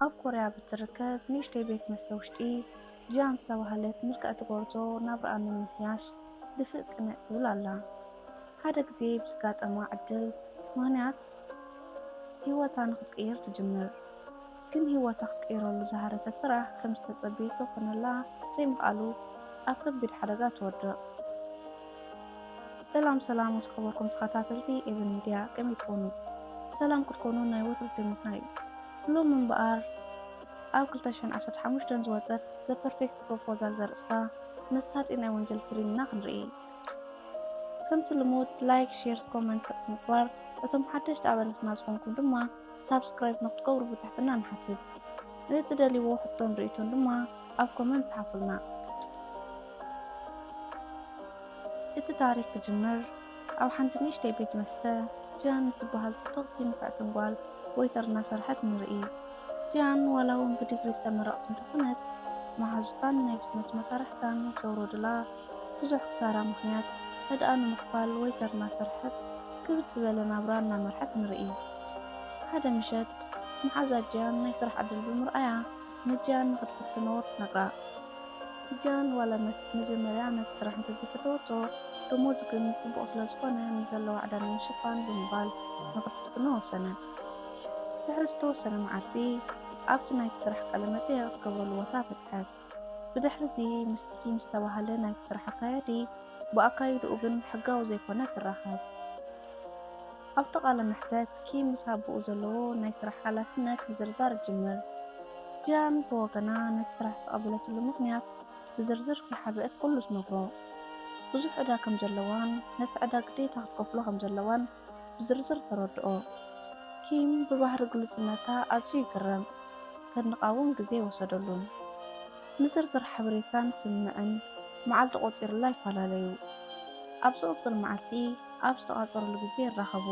ኣብ ኮርያ ብትርከብ ንእሽተይ ቤት መስተ ውሽጢ ጂያን ዝተባህለት ምልክዕቲ ጎርዞ ናብራኣ ንምምሕያሽ ድፍእ ቅንዕ ትብል ኣላ። ሓደ ግዜ ብዝጋጠማ ዕድል ምኽንያት ህይወታ ንኽትቅይር ትጅምር። ግን ህይወታ ክትቅይረሉ ዝሃረፈት ስራሕ ከም ዝተጸበየቶ ክኾነላ ብዘይምኽኣሉ ኣብ ከቢድ ሓደጋ ትወድቕ። ሰላም ሰላም ዝኸበርኩም ተኸታተልቲ ኤቨን ሚድያ ከመይ ትኾኑ? ሰላም ክትኮኑ ናይ ወትሩ ትምኒትና እዩ። ሎሚ እምበኣር ኣብ 2015 ዝወጸት ዘ ፐርፌክት ፕሮፖዛል ዘርእስታ መሳጢ ናይ ወንጀል ፊልም ኢና ክንርኢ። ከምቲ ልሙድ ላይክ፣ ሼርስ፣ ኮመንት ምግባር እቶም ሓደሽቲ ኣባላትና ዝኾንኩም ድማ ሳብስክራይብ ንክትገብሩ ብትሕትና ንሓትት። ንእትደልይዎ ሕቶን ርእይቶን ድማ ኣብ ኮመንት ጸሓፉልና። እቲ ታሪክ ክጅምር ኣብ ሓንቲ ንእሽተይ ቤት መስተ ጂያን እትበሃል ጽብቕቲ ንፍዕትን ጓል ወይተር እናሰርሐት ንርኢ። ጂያን ዋላ እውን ብዲግሪ ዝተመረቕት እንተኾነት መሓዙታን ናይ ብዝነስ መሳርሕታን ዘውረዱላ ብዙሕ ክሳራ ምኽንያት ዕዳኣ ንምኽፋል ወይ ተርና ስርሐት ክብድ ዝበለ ናብራ እናመርሐት ንርኢ። ሓደ ምሸት መሓዛ ጂያን ናይ ስራሕ ዕድል ብምርኣያ ንጂያን ንኽትፍትኖ ትነግራ። ጂያን ዋላ መጀመርያ ነቲ ስራሕ እንተዘይፈተወቶ ደሞዙ ግን ጽቡቕ ስለዝኾነ ንዘለዋ ዕዳ ንምሽፋን ብምባል ንኽትፍትኖ ወሰነት። ድሕሪ ዝተወሰነ መዓልቲ ኣብቲ ናይቲ ስራሕ ቃለ መጠየቕ ትገብረሉ ቦታ በጽሐት። ብድሕርዚ ምስቲ ቲም ዝተባህለ ናይቲ ስራሕ ኣካያዲ ብኣካይድኡ ግን ሕጋዊ ዘይኮነ ትራኸብ። ኣብቲ ቃለ መሕተት ኪም ምስ ኣቦኡ ዘለዎ ናይ ስራሕ ሓላፍነት ምዝርዛር ይጅምር። ጂያን ብወገና ነቲ ስራሕ ዝተቐበለትሉ ምኽንያት ብዝርዝር ከይሓበአት ኩሉ ትነግሮ። ብዙሕ ዕዳ ከም ዘለዋን ነቲ ዕዳ ግዴታ ክትከፍሎ ከም ዘለዋን ብዝርዝር ተረድኦ። ኪም ብባህሪ ግሉጽነታ ኣዝዩ ይግረም፣ ከድንቓ እውን ግዜ ኣይወሰደሉን። ንዝርዝር ሓበሬታን ስምምዕን መዓልቲ ቆጺሩላ ይፈላለዩ። ኣብ ዝቕጽል መዓልቲ ኣብ ዝተቛጸሩሉ ግዜ ይራኸቡ።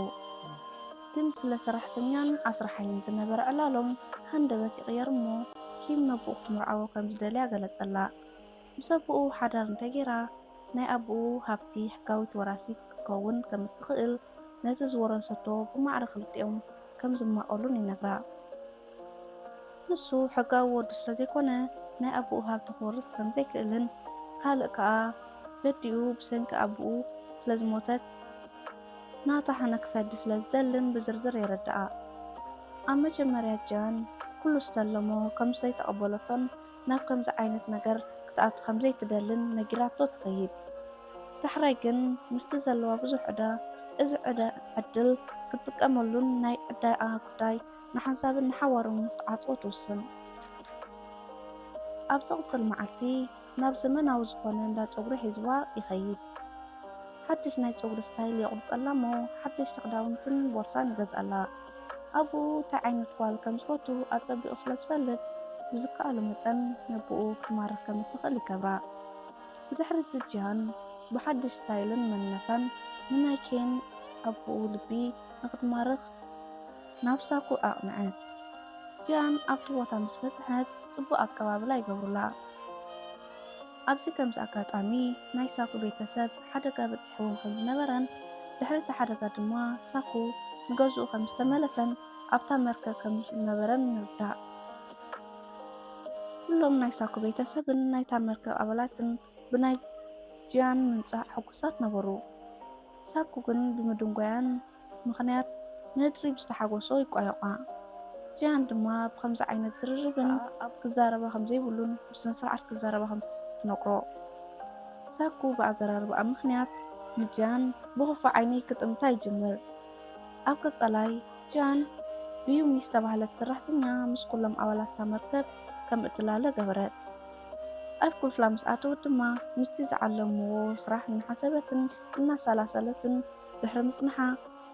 ግን ስለ ሰራሕተኛን ኣስራሓይን ዝነበረ ዕላሎም ሃንደበት ይቕየር እሞ ኪም ነቦኡ ክትምርዓዎ ከም ዝደልያ ገለጸላ። ምስ ኣቦኡ ሓዳር እንተ ገይራ፣ ናይ ኣቦኡ ሃብቲ ሕጋዊት ወራሲት ክትከውን ከም እትኽእል፣ ነቲ ዝወረሰቶ ብማዕረ ክልቲኦም ከም ዝማቐሉን ይነግራ። ንሱ ሕጋዊ ወዱ ስለ ዘይኮነ ናይ ኣቦኡ ሃብቲ ክወርስ ከም ዘይክእልን ካልእ ከኣ ደዲኡ ብሰንኪ ኣቦኡ ስለ ዝሞተት ናታ ሕነ ክፈዲ ስለ ዝደልን ብዝርዝር የረድኣ። ኣብ መጀመርያ ጃን ኩሉ ዝተለሞ ከም ዘይተቐበለቶን ናብ ከምዚ ዓይነት ነገር ክትኣቱ ከም ዘይትደልን ነጊራቶ ትኸይድ። ዳሕራይ ግን ምስቲ ዘለዋ ብዙሕ ዕዳ እዚ ዕድል ክትጥቀመሉን ናይ ዕዳኣ ጉዳይ ንሓንሳብን ንሓዋሩን ንኽትዓጽዎ ትውስን። ኣብ ዝቕጽል መዓልቲ ናብ ዘመናዊ ዝኾነ እንዳ ጸጉሪ ሒዝዋ ይኸይድ። ሓድሽ ናይ ጸጉሪ ስታይል የቑርጸላ እሞ ሓደሽቲ ክዳውንትን ቦርሳን ይገዝኣላ። ኣቡኡ እንታይ ዓይነት ጓል ከም ዝፈቱ ኣጸቢቑ ስለ ዝፈልጥ፣ ብዝከኣሎ መጠን ነቡኡ ክትማርኽ ከም እትኽእል ይገብራ። ብድሕሪ'ዚ ጂሃን ብሓድሽ ስታይልን መንነታን ንናይ ኬን ኣቡኡ ልቢ ንኽትማርኽ ናብ ሳኩ ኣቕንዐት። ጂሃን ኣብቲ ቦታ ምስ በጽሐት ጽቡቕ ኣቀባብላ ይገብሩላ። ኣብዚ ከምዚ ኣጋጣሚ ናይ ሳኩ ቤተሰብ ሓደጋ በጺሕዎም ከም ዝነበረን ድሕሪ እቲ ሓደጋ ድማ ሳኩ ንገዝኡ ከም ዝተመለሰን ኣብታ መርከብ ከም ዝነበረን ንርዳእ። ኩሎም ናይ ሳኩ ቤተሰብን ናይታ መርከብ ኣባላትን ብናይ ጂያን ምምጻእ ሕጉሳት ነበሩ። ሳኩ ግን ብምድንጓያን ምኽንያት ንህድሪ ብዝተሓጎሶ ይቋየቋ። ጂያን ድማ ብኸምዚ ዓይነት ዝርርብን ክዛረባ ከምዘይብሉን ብስነስርዓት ክዛረባ ከምትነግሮ ሳኩ ብኣዘራርባኣ ምኽንያት ንጂያን ብኽፉእ ዓይኒ ክጥምታ ይጅምር። ኣብ ቀጻላይ ጂያን ብዩሚ ዝተባህለት ሰራሕተኛ ምስ ኩሎም ኣባላት'ታ መርከብ ከምእትላለ ገበረት። ኣብ ክፍላ ምስ ኣተወት ድማ ምስቲ ዝዓለምዎ ስራሕ እናሓሰበትን እናሰላሰለትን ድሕሪ ምፅንሓ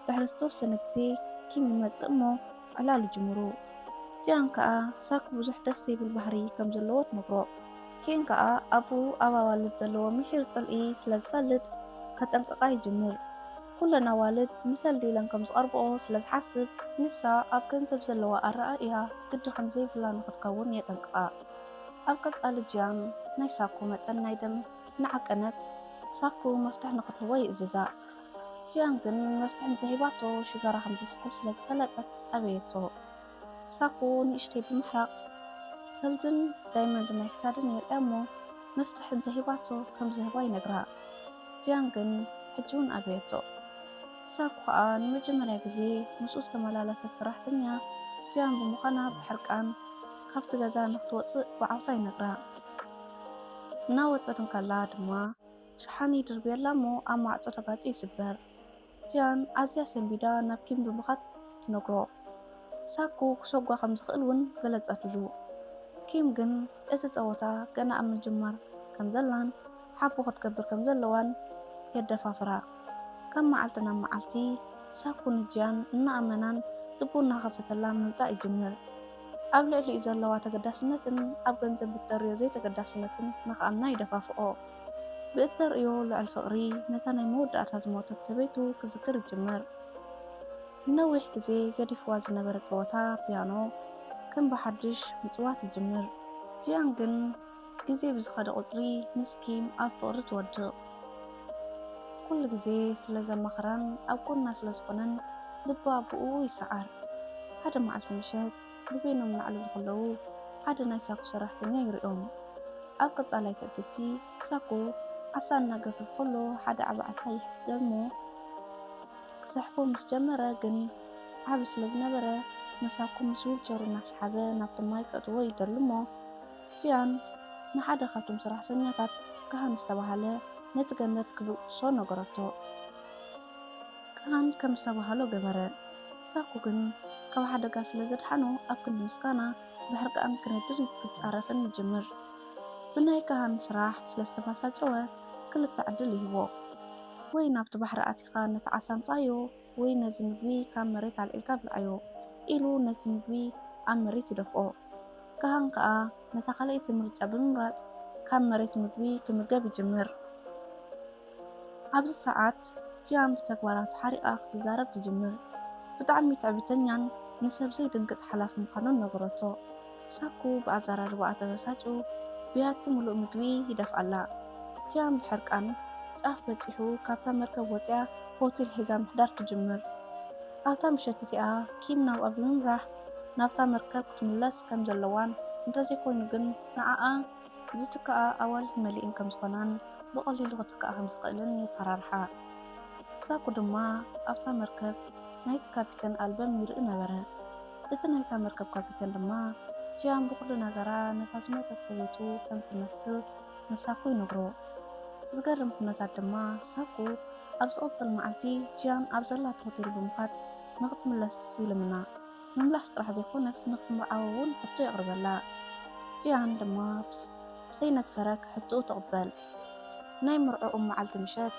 ድሕሪ ዝተወሰነ ግዜ ኪም ይመፅእ እሞ ዕላል ይጅምሩ። ጂያን ከዓ ሳክ ብዙሕ ደስ ዘይብል ባህሪ ከም ዘለዎ ትነግሮ። ኪም ከዓ ኣብኡ ኣብ ኣዋልድ ዘለዎ ምሒር ፅልኢ ስለ ዝፈልጥ ከጠንቅቃ ይጅምር። ኩለን ኣዋልድ ንሰልዲ ኢለን ከም ዝቐርብኦ ስለ ዝሓስብ ንሳ ኣብ ገንዘብ ዘለዋ ኣረኣእያ ግዲ ከም ዘይብላ ንኽትከውን የጠንቅቃ። ኣብ ቀጻሊ ጅያኑ ናይ ሳኩ መጠን ናይ ደም እናዓቀነት ሳኩ መፍትሕ ንክትህቦ ይእዝዛ። ጅያን ግን መፍትሕ እንተሂባቶ ሽጋራ ከምዘስዕብ ስለዝፈለጠት ኣበየቶ። ሳኩ ንእሽተይ ብምሕራቅ ሰልድን ዳይመንድ ናይ ክሳድን የርእያ እሞ መፍትሕ እንተሂባቶ ከምዝህባ ይነግራ። ጅያን ግን ሕጂውን ኣበየቶ። ሳኩ ከኣ ንመጀመርያ ግዜ ምስኡ ዝተመላለሰት ሰራሕተኛ ጂያን ብምዃና ብሕርቃን ካብቲ ገዛ ንኽትወጽእ ብዓውታ ይነግራ። እናወጸት እንከላ ድማ ሸሓኒ ይድርብየላ እሞ ኣብ ማዕጾ ተጋጭ ይስበር። ጂያን ኣዝያ ሰንቢዳ ናብ ኪም ብምኻድ ትነግሮ። ሳኩ ክሰጓ ከም ዝኽእል እውን ገለጸትሉ። ኪም ግን እቲ ጸወታ ገና ኣብ ምጅማር ከም ዘላን ሓቦ ክትገብር ከም ዘለዋን የደፋፍራ። ካብ መዓልቲ ናብ መዓልቲ ሳኩ ንጂያን እናኣመናን ልቡ እናኸፈተላን ምምጻእ ይጅምር። ኣብ ልዕሊኡ ዘለዋ ተገዳስነትን ኣብ ገንዘብ ብእተርእዮ ዘይተገዳስነትን ንኽኣምና ይደፋፍኦ። ብእተርእዮ ልዑል ፍቕሪ ነታ ናይ መወዳእታ ዝሞተት ሰበይቱ ክዝክር ይጅምር። ንነዊሕ ግዜ ገዲፍዋ ዝነበረ ጸወታ ፒያኖ ከም ብሓድሽ ምጽዋት ይጅምር። ጂያን ግን። ግዜ ብዝኸደ ቁጽሪ ምስ ኪም ኣብ ፍቕሪ ትወድቕ። ኩሉ ግዜ ስለ ዘማኽራን ኣብ ጎና ስለ ዝኾነን ልባ ብእኡ ይሰዓር። ሓደ መዓልቲ ምሸት ብበይኖም እናዕለሉ ከለዉ ሓደ ናይ ሳኩ ሰራሕተኛ ይሪኦም። ኣብ ቀጻላይ ትዕዝብቲ ሳኩ ዓሳ እናገፈፈ ከሎ ሓደ ዓቢ ዓሳ ይሕትት እሞ ክሰሕቦ ምስ ጀመረ ግን ዓቢ ስለ ዝነበረ ንሳኩ ምስ ዊልቸሩ እናሰሓበ ናብቲ ማይ ከእትዎ ይደሊ እሞ ፊያን ንሓደ ኻብቶም ሰራሕተኛታት ካህን ዝተባህለ ነቲ ገመድ ኪብእሶ ነገረቶ። ካህን ከም ዝተባህሎ ገበረ። ሳኩ ግን ካብ ሓደጋ ስለ ዘድሓኖ ኣብ ክንዲ ምስጋና ብሕርቃን ኪነድር ኪጻረፍን ይጅምር። ብናይ ካህን ስራሕ ስለ ዝተባሳጨወ ክልተ ዕድል ይህቦ። ወይ ናብቲ ባሕሪ ኣቲኻ ነቲ ዓሳ ኣምጽኣዮ፣ ወይ ነዚ ምግቢ ካብ መሬት ኣልዒልካ ብልዓዮ ኢሉ ነቲ ምግቢ ኣብ መሬት ይደፍኦ። ከሃን ከኣ ነታ ካልኣይቲ ምርጫ ብምምራጽ ካብ መሬት ምግቢ ክምገብ ይጅምር። ኣብዚ ሰዓት ጂያን ብተግባራቱ ሓሪቓ ክትዛረብ ትጅምር። ብጣዕሚ ትዕቢተኛን ንሰብ ዘይድንግጽ ሓላፊ ምዃኑን ነገረቶ። ሳኩ ብኣዘራርባኣ ተበሳጩ ብያቲ ምሉእ ምግቢ ይደፍኣላ። ጂያን ብሕርቃን ጫፍ በጺሑ ካብታ መርከብ ወጺኣ ሆቴል ሒዛ ምሕዳር ትጅምር። ኣብታ ምሸት እቲኣ ኪም ናብኣ ብምምራሕ ናብታ መርከብ ክትምለስ ከም ዘለዋን እንተዘይኮይኑ ግን ንዓኣ ዝትክኣ ኣዋልድ መሊኤን ከም ዝኾናን ብቐሊሉ ክትክኣ ከም ዝኽእልን የፈራርሓ። ሳኩ ድማ ኣብታ መርከብ ናይቲ ካፒተን ኣልበም ይርኢ ነበረ። እቲ ናይታ መርከብ ካፒተን ድማ ጂያን ብኹሉ ነገራ ነታ ዝሞተት ሰበይቱ ከም ትመስል ንሳኩ ይነግሮ። ዝገርም ኩነታት ድማ ሳኩ ኣብ ዝቕጽል መዓልቲ ጂያን ኣብ ዘላቶ ሆቴል ብምኻድ ንክትምለስ ይልምና። ምምላስ ጥራሕ ዘይኮነስ ንክትምርዓው እውን ሕቶ የቕርበላ። ጂያን ድማ ብዘይነግ ፈረግ ሕቶኡ ትቕበል። ናይ መርዕኦም መዓልቲ ምሸት፣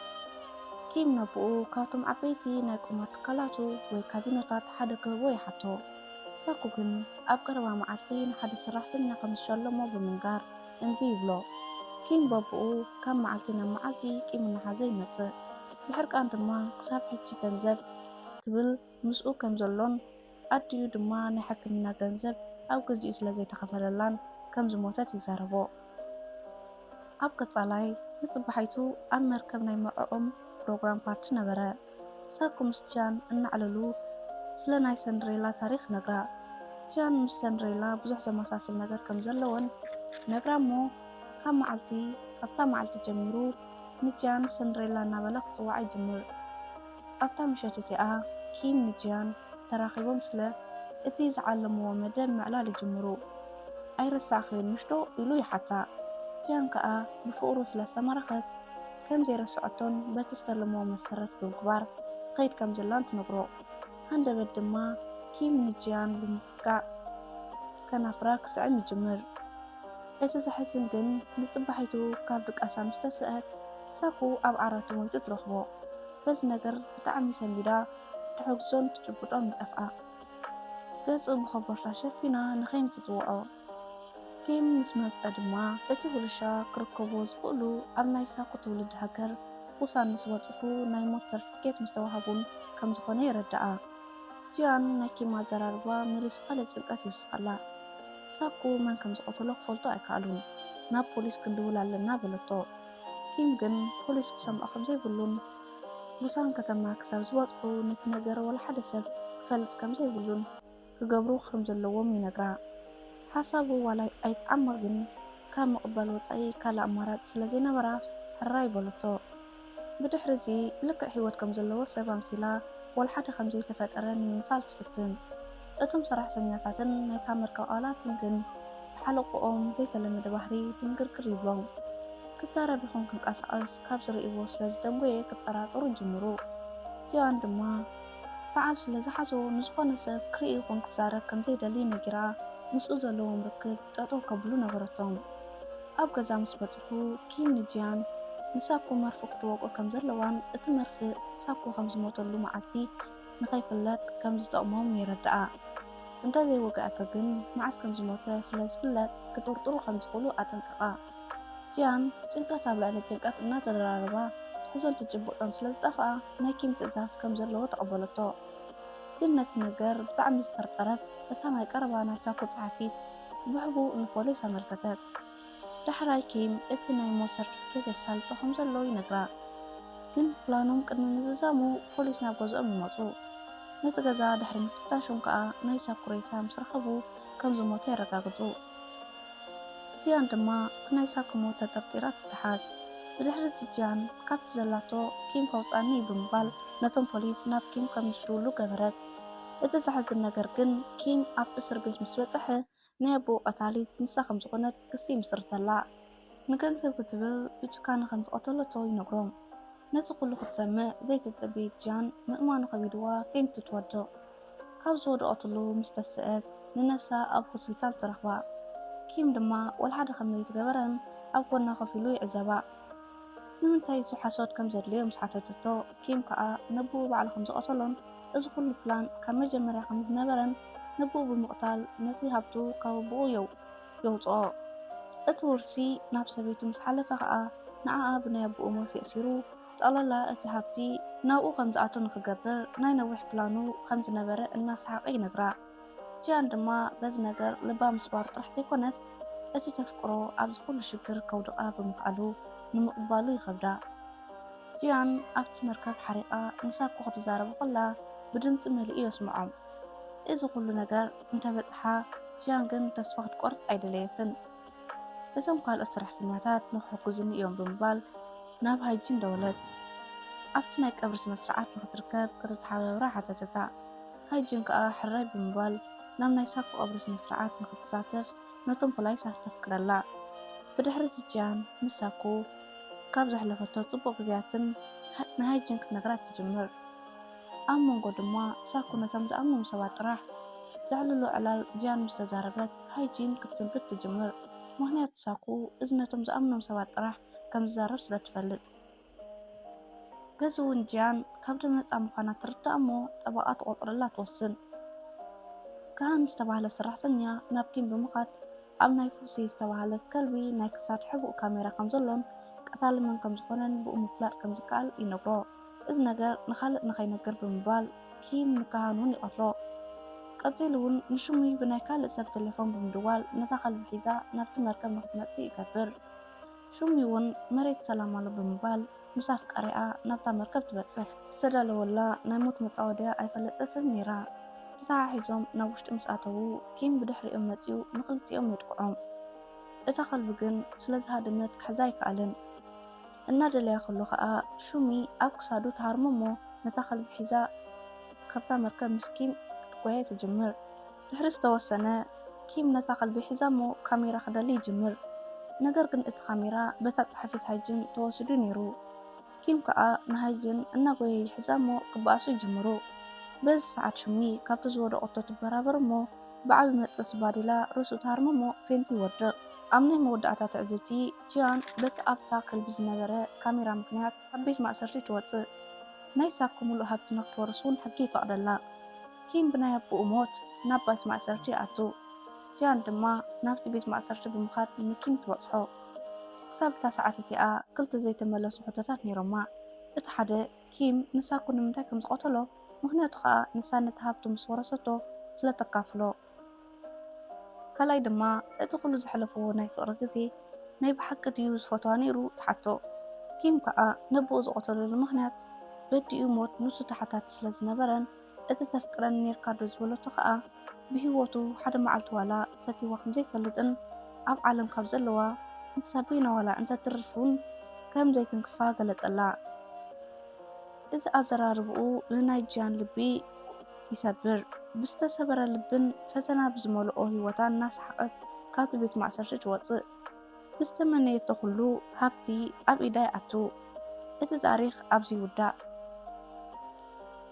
ኪም ነቦኡ ካብቶም ዓበይቲ ናይ ቁማር ትካላቱ ወይ ካዚኖታት ሓደ ክህቦ ይሓቶ። ሳኩ ግን ኣብ ቀረባ መዓልቲ ንሓደ ሰራሕተኛ ከም ዝሸለሞ ብምንጋር እምቢ ይብሎ። ኪም በብኡ ካብ መዓልቲ ናብ መዓልቲ ቂም እናሓዘ ይመጽእ። ብሕርቃን ድማ ክሳብ ሕጂ ገንዘብ ክብል ምስኡ ከም ዘሎን ኣዲኡ ድማ ናይ ሕክምና ገንዘብ ኣብ ግዚኡ ስለ ዘይተኸፈለላን ከም ዝሞተት ይዛረቦ። ኣብ ቀጻላይ ንጽባሒቱ ኣብ መርከብ ናይ መርዕኦም ፕሮግራም ፓርቲ ነበረ። ሳኩ ምስ ጂያን እናዕለሉ ስለ ናይ ሰንድሬላ ታሪኽ ነግራ። ጂያን ምስ ሰንድሬላ ብዙሕ ዘመሳስል ነገር ከም ዘለወን ነግራ'ሞ ካብ መዓልቲ ካብታ መዓልቲ ጀሚሩ ንጂያን ሰንድሬላ እናበለ ክጽውዓ ይጅምር። ኣብታ ምሸት እቲኣ ኪም ንጂያን ተራኺቦም ስለ እቲ ዝዓለምዎ መደብ ምዕላል ይጅምሩ። ኣይረሳዕክዮን'ሽ'ዶ ኢሉ ይሓታ። ጂያን ከኣ ብፍቕሩ ስለ ዝተማረኸት ከም ዘይረስዐቶን በቲ ዝተለምዎ መሰረት ብምግባር ትኸይድ ከም ዘላን ትነግሮ። ሃንደበት ድማ ኪም ንጂያን ብምጽጋዕ ከናፍራ ክስዕም ይጅምር። እቲ ዘሕዝን ግን ንጽባሒቱ ካብ ድቃሳ ምስ ተስኣት፣ ሳኩ ኣብ ዓራቱ ሞይቱ ትረኽቦ። በዚ ነገር ብጣዕሚ ሰንቢዳ ትሕጉሶን ትጭብጦን ምጠፍኣ። ገጹ ብኮቦርታ ሸፊና ንኪም ትጽውዖ። ኪም ምስ መጸ ድማ እቲ ውርሻ ክርከብዎ ዝኽእሉ ኣብ ናይ ሳኩ ትውልዲ ሃገር ቡሳን ምስ በጽሑ ናይ ሞት ሰርትፍኬት ምስ ተዋህቡን ከም ዝኾነ የረድኣ። ጂያን ናይ ኪም ኣዘራርባ መሊሱ ካልእ ጭንቀት ይውስኸላ። ሳኩ መን ከም ዝቐተሎ ክፈልጡ ኣይከኣሉን። ናብ ፖሊስ ክንድውል ኣለና በለቶ። ኪም ግን ፖሊስ ክሰምዖ ከም ዘይብሉን ቡሳን ከተማ ክሳብ ዝበጽሑ ነቲ ነገር ዋላ ሓደ ሰብ ክፈልጥ ከም ዘይብሉን ክገብሩ ከም ዘለዎም ይነግራ። ሓሳቡ ዋላ ኣይትዓምቕ ግን ካብ ምቕባል ወጻኢ ካልእ ኣማራጺ ስለ ዘይነበራ ሕራይ በለቶ። ብድሕሪ'ዚ ልክዕ ህይወት ከም ዘለዎ ሰብ ኣምሲላ ዋላ ሓደ ከም ዘይተፈጠረ ንምምሳል ትፍትን። እቶም ሰራሕተኛታትን ናይታ መርከብ ኣባላትን ግን ብሓለቆኦም ዘይተለመደ ባህሪ ድንግርግር ይብሎም። ክዛረብ ይኹን ክንቀሳቐስ ካብ ዝርእይዎ ስለ ዝደንጎየ ክጠራጠሩ ይጅምሩ። ጂያን ድማ ሰዓል ስለ ዝሓዞ ንዝኾነ ሰብ ክርኢ ይኹን ክዛረብ ከም ዘይደሊ ነጊራ ምስኡ ዘለዎም ርክብ ጠጠው ከብሉ ነገረቶም። ኣብ ገዛ ምስ በጽሑ ኪም ንጂያን ንሳኩ መርፍእ ክትወቅኦ ከም ዘለዋን እቲ መርፍእ ሳኩ ከም ዝሞተሉ መዓልቲ ንኸይፍለጥ ከም ዝጠቕሞም የረድኣ። እንተ ዘይወግኣቶ ግን መዓስ ከም ዝሞተ ስለ ዝፍለጥ ክጥርጥሩ ከም ዝኽእሉ ኣጠንቀቓ። ጂያን ጭንቀት ኣብ ልዕሊ ጭንቀት እናተደራረባ ትሕዞን ትጭብጦን ስለ ዝጠፍኣ ናይ ኪም ትእዛዝ ከም ዘለዎ ተቐበለቶ። ግን ነቲ ነገር ብጣዕሚ ዝጠርጠረት እታ ናይ ቀረባ ናይ ሳኮ ጸሓፊት ብሕቡእ ንፖሊስ ኣመልከተት። ዳሕራይ ኪም እቲ ናይ ሞት ሰርቲፊኬት የሳልጦ ከም ዘሎ ይነግራ። ግን ፕላኖም ቅድሚ ምዝዛሙ ፖሊስ ናብ ገዝኦም ይመጹ። ነቲ ገዛ ድሕሪ ምፍታሾም ከኣ ናይ ሳኩ ሬሳ ምስ ረኸቡ ከም ዝሞተ የረጋግጹ። ጂያን ድማ ብናይ ሳኩ ሞት ተጠርጢራ ትተሓዝ። ብድሕሪ'ዚ ጂያን ካብቲ ዘላቶ ኪም ከውጽኣኒ እዩ ብምባል ነቶም ፖሊስ ናብ ኪም ከም ዝድውሉ ገበረት። እቲ ዘሕዝን ነገር ግን ኪም ኣብ እስርቤት ምስ በጸሐ ናይ ኣቦኡ ቀታሊት ንሳ ከም ዝኾነት ክሲ ይምስርተላ። ንገንዘብ ክትብል ብጭካነ ከም ዝቐተለቶ ይነግሮም። ነዚ ኩሉ ክትሰምዕ ዘይተጸበየት ጂያን ምእማኑ ከቢድዋ ፌንት ትወድቕ። ካብ ዝወደቐትሉ ምስ ተሰእት ንነብሳ ኣብ ሆስፒታል ትረኽባ። ኪም ድማ ወልሓደ ከም ዘይትገበረን ኣብ ጎና ኮፍ ኢሉ ይዕዘባ። ንምንታይ እዚ ሓሶት ከም ዘድልዮ ምስ ሓተተቶ ኪም ከኣ ነቦኡ ባዕሉ ከም ዝቐተሎን እዚ ኩሉ ፕላን ካብ መጀመርያ ከም ዝነበረን ንብኡ ብምቕታል ነቲ ሃብቱ ካብ ኣቦኡ የውጽኦ። እቲ ውርሲ ናብ ሰበይቱ ምስ ሓለፈ ከኣ ንዓኣ ብናይ ኣቦኡ ሞት የእሲሩ ጠቕላላ እቲ ሃብቲ ናብኡ ከም ዝኣቱ ንኽገብር ናይ ነዊሕ ፕላኑ ከም ዝነበረ እናሰሓቐ ይነግራ። ጂያን ድማ በዚ ነገር ልባ ምስባሩ ጥራሕ ዘይኮነስ እቲ ተፍቅሮ ኣብዚ ኩሉ ሽግር ከውድቓ ብምኽኣሉ ንምቕባሉ ይኸብዳ። ጂያን ኣብቲ መርከብ ሓሪቓ ንሳኮ ክትዛረቦ ከላ ብድምጺ መሊኡ የስምዖም። እዚ ዅሉ ነገር እንተ በጽሓ፣ ጂያን ግን ተስፋ ክትቈርጽ ኣይደለየትን። እቶም ካልኦት ሰራሕተኛታት ንኽሕግዙኒ እዮም ብምባል ናብ ሃይጂን ደወለት። ኣብቲ ናይ ቀብሪ ስነ ስርዓት ንኽትርከብ ከተተሓባብራ ሓተተታ። ሃይጂን ከኣ ሕራይ ብምባል ናብ ናይ ሳኮ ቀብሪ ስነ ስርዓት ንኽትሳተፍ ነቶም ፖላይሳት ተፍቅደላ። ብድሕሪ እዚ ጂያን ምስ ሳኮ ካብ ዘሕለፈቶ ጽቡቕ ግዜያትን ንሃይጂን ክትነግራ ትጅምር። ኣብ መንጎ ድማ ሳኩ ነቶም ዝኣምኖም ሰባት ጥራሕ ዘዕልሎ ዕላል ጂያን ምስ ተዛረበት ሃይጂን ክትስንብድ ትጅምር። ምኽንያቱ ሳኩ እዚ ነቶም ዝኣምኖም ሰባት ጥራሕ ከም ዝዛረብ ስለ ትፈልጥ። በዚ እውን ጂያን ካብ ደም ነጻ ምዃና ትርዳእ እሞ ጠበቓ ትቖጽረላ ትወስን። ካሃን ዝተባህለ ሰራሕተኛ ናብ ኪም ብምኻድ፣ ኣብ ናይ ፉሲ ዝተባህለት ከልቢ ናይ ክሳድ ሕቡእ ካሜራ ከምዘሎን ቀታሊ መን ከምዝኾነን ብኡ ምፍላጥ ከምዝከኣል ይነግሮ። እዚ ነገር ንኻልእ ንኸይነግር ብምባል ኪም ንካሃን እውን ይቐትሎ። ቀጺሉ እውን ንሹሙይ ብናይ ካልእ ሰብ ቴሌፎን ብምድዋል ነታ ከልቢ ሒዛ ናብቲ መርከብ ንኽትመጽእ ይገብር። ሹሚ እውን መሬት ሰላም ኣሎ ብምባል ምስ ኣፍቃሪኣ ናብታ መርከብ ትበጽሕ። ዝተዳለወላ ናይ ሞት መጻወድያ ኣይፈለጠትን ነይራ። ተተሓሒዞም ናብ ውሽጢ ምስ ኣተዉ ኪም ብድሕሪኦም መጺኡ ንኽልቲኦም የጥቅዖም። እታ ከልቢ ግን ስለ ዝሃደመት ክሕዛ ኣይከኣለን። እናደለያ ከሎ ከኣ ሹሚ ኣብ ክሳዱ ትሃርሞ እሞ ነታ ከልቢ ሒዛ ካብታ መርከብ ምስ ኪም ክትጓየ ትጅምር። ድሕሪ ዝተወሰነ፣ ኪም ነታ ከልቢ ሒዛ'ሞ ካሜራ ክደሊ ይጅምር። ነገር ግን እቲ ካሜራ በታ ጸሓፊት ሃይጅን ተወሲዱ ነይሩ። ኪም ከኣ ንሃይጅን እናጎየ ይሕዛ'ሞ ክበኣሱ ይጅምሩ። በዚ ሰዓት ሹሚ ካብቲ ዝወደቐቶ ትበራበር'ሞ ብዓቢ መጥበሲ ባዴላ ርእሱ ትሃርም'ሞ ፌንት ይወድቕ። ኣብ ናይ መወዳእታ ትዕዝብቲ፣ ጂያን በቲ ኣብታ ከልቢ ዝነበረ ካሜራ ምኽንያት ካብ ቤት ማእሰርቲ ትወጽእ። ናይ ሳኮ ምሉእ ሃብቲ ንኽትወርስ'ውን ሕጊ ይፈቕደላ። ኪም ብናይ ኣቦኡ ሞት ናብ ባት ማእሰርቲ ይኣቱ፣ ጂያን ድማ ናብቲ ቤት ማእሰርቲ ብምኻድ ንኪም ትበጽሖ። ክሳብ እታ ሰዓት እቲኣ ክልተ ዘይተመለሱ ሕቶታት ነይሮማ፣ እቲ ሓደ ኪም ንሳኩ ንምንታይ ከም ዝቐተሎ፣ ምኽንያቱ ኸኣ ንሳ ነቲ ሃብቱ ምስ ወረሰቶ ስለ እተካፍሎ። ካልኣይ ድማ እቲ ኹሉ ዘሕለፍዎ ናይ ፍቕሪ ግዜ ናይ ብሓቂ ድዩ ዝፈትዋ ነይሩ ትሓቶ። ኪም ከኣ ነቦኡ ዝቐተለሉ ምኽንያት በዲኡ ሞት ንሱ ተሓታቲ ስለ ዝነበረን፣ እቲ ተፍቅረኒ ኔርካ ዶ ዝበለቶ ከኣ ብሂወቱ ሓደ መዓልቲ ዋላ ፈቲዋ ከም ዘይፈልጥን ኣብ ዓለም ካብ ዘለዋ ንሳ በይና ዋላ እንተ ትርፍ ውን ከም ዘይትንክፋ ገለጸላ እዚ ኣዘራርብኡ ንናይ ጂያን ልቢ ይሰብር ብዝተሰበረ ልብን ፈተና ብዝመልኦ ሂወታን እናሰሓቀት ካብቲ ቤት ማእሰርቲ ትወጽእ ብዝተመነየቶ ኩሉ ሃብቲ ኣብ ኢዳ ይኣቱ እቲ ታሪኽ ኣብዚ ይውዳእ።